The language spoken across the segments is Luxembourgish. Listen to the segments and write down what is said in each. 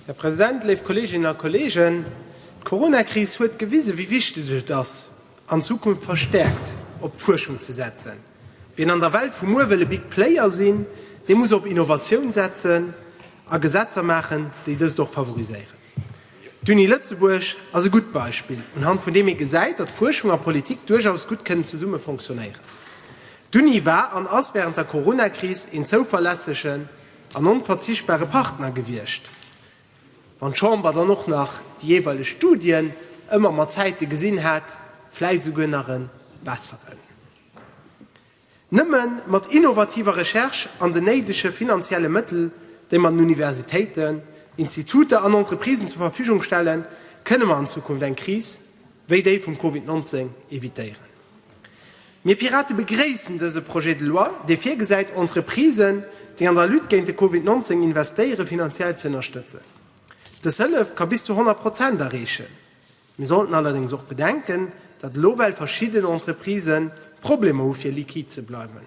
Här President, léif Kolleeginnen a Kolleegen, d'Coronakris huet gewisen, wéi wichteg et ass, an Zukunft verstärkt op d'Fuerschung ze setzen. Wien an der Welt vu muer wëll e Big Player sinn, dee muss op Innovatioun setzen a Gesetzer maachen, déi dëst och favoriséieren. D'Uni Lëtzebuerg ass e gutt Beispill, unhand vun deem ee gesäit, datt Fuerschung a Politik duerchaus gutt kënnen zesumme fonctionnéieren. D'Uni war an ass wärend der Corona-Kris een zouverlässegen an onverzichtbare Partner gewiescht, wann d'Chamber dann och nach déi jeeweileg Studien ëmmer mat Zäite gesinn hat, vläit esouguer nach e besseren. Nëmme mat innovativer Recherche an den néidege finanzielle Mëttel, déi mer den Universitéiten, Instituter an Entreprisen zur Verfügung stellen, kënne mer an Zukunft eng Kris wéi déi vum Covid 19 evitéieren. Mir Pirate begréissen dëse Projet de loi, dee virgesäit, Entreprisen, déi an der Lutte géint de Covid 19 investéieren, finanziell ze ënnerstëtzen. Dës Hëllef ka bis zu 100 Prozent erreechen. Mir sollten allerdéngs och bedenken, datt elo well verschidden Entreprisë Problemer hu fir liquid ze bleiwen.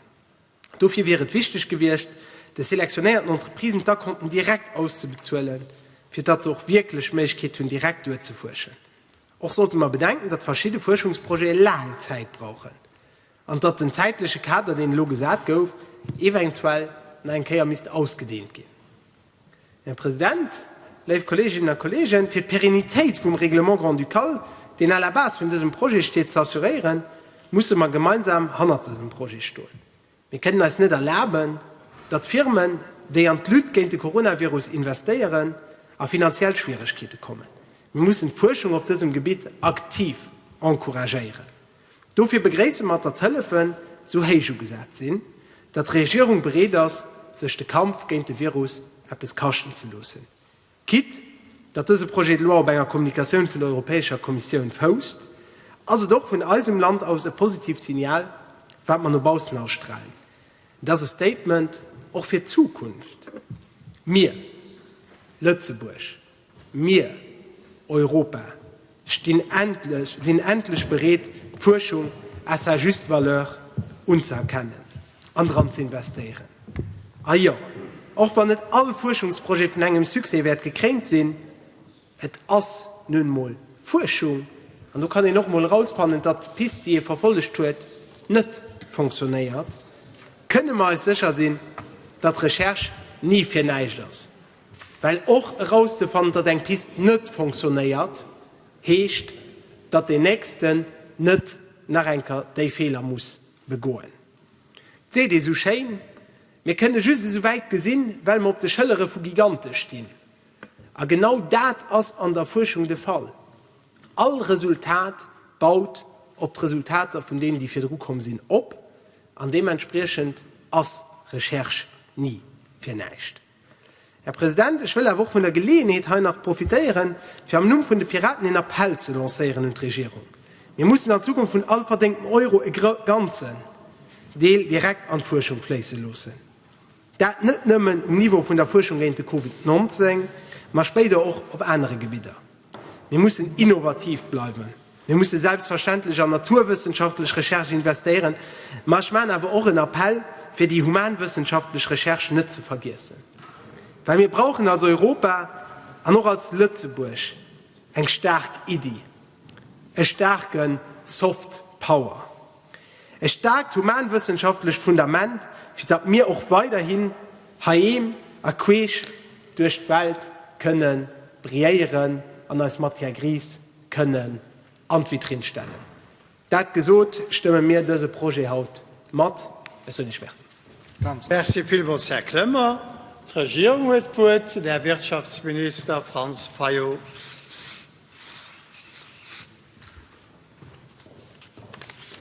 Dofir wier et wichteg gewiescht, de selektionéierten Entreprisen d'Akonten direkt auszebezuelen, fir datt se och wierklech d'Méiglechkeet hunn direkt duerzefuerschen. Och sollte mer bedenken, datt verschidde Fuerschungsprojete laang Zäit brauchen. an datt den zäitleche Kader, deen elo gesat gouf, eventuell nach eng Kéier misst ausgedehnt ginn. Här President, léif Kolleeginnen a Kolleegen, fir d'Pérennitéit vum Règlement grand-ducal, deen à la base vun dësem Projet steet, ze assuréieren, musse mer gemeinsam hannert dësem Projet stoen. Mir kënnen eis net erlaben, datt Firmen, déi an d'Lutte géint de Coronavirus investéieren, a finanziell Schwieregkeete kommen. Mir mussen d'Fuerschung op dësem Gebitt aktiv encouragéieren. Dofir begréisse mer, datt d'Hëllefen esou héich ugesat sinn, datt d'Regierung bereet ass, sech de Kampf géint de Virus eppes kaschten ze loossen. Quitte datt dëse Projet de loi op enger Kommunikatioun vun der Europäescher Kommissioun fousst, ass et och vun eisem Land aus e positiivt Signal, wat mer no baussen ausstralen. Et ass e Statement och fir d'Zukunft. Mir, Lëtzebuerg, Mir, Europa, stinn endlech, sinn endlech bereet, d'Fuerschung à sa juste valeur unzëerkennen an dran ze investéieren. A jo, och wann net all Fuerschungsprojet vun engem Succès wäert gekréint sinn, et ass nun emol Fuerschung, an do kann een och emol erausfannen, datt d'Pist, déi ee verfollegt huet, net fonctionnéiert, kënne mer eis sécher sinn, datt Recherche ni fir näischt ass. Well och erauszefannen, datt eng Pist net fonctionnéiert, heescht, datt deen Nächsten net nach eng Kéier déi Feeler muss begoen. Et seet ee sou schéin, Mir kënne just esou wäit gesinn, well mer op de Schëllere vu Gigante stinn. A genau dat ass an der Fuerschung de Fall. All Resultat baut op d'Resultater vun deenen, déi virdru komm sinn, op. An deementspriechend ass Recherche ni fir näischt. Här President, ech wëll awer och vun der Geleeënheet hei nach profitéieren, fir am Numm vun de Piraten een Appell ze lancéieren un d'Regierung. Mir mussen an Zukunft vun all verdéngtem Euro e ganzen Deel direkt an d'Fuerschung fléisse loossen. Dat net nëmmen um Niveau vun der Fuerschung géint de Covid 19, ma spéider och op anere Gebidder. Mir mussen innovativ bleiwen. Mir musse selbstverständlech an naturwëssenschaftlech Recherche investéieren, ma ech maachen awer och en Appell, fir déi humanwëssenschaftlech Recherche net ze vergiessen, well mir brauchen als Europa an och als Lëtzebuerg eng staark Iddi, e staarke Soft Power, e staarkt humanwëssenschaftlecht Fundament, fir datt mir och weiderhin heiheem a queesch duerch d'Welt kënne brilléieren an eis Matière grise kënnen an d'Vitrinn stellen. Dat gesot, stëmme mir dëse Projet haut mat. Ech soen Iech Merci. Merci villmools, Här Clement. D'Regierung huet d'Wuert, den Här Wirtschaftsminister Franz Fayot.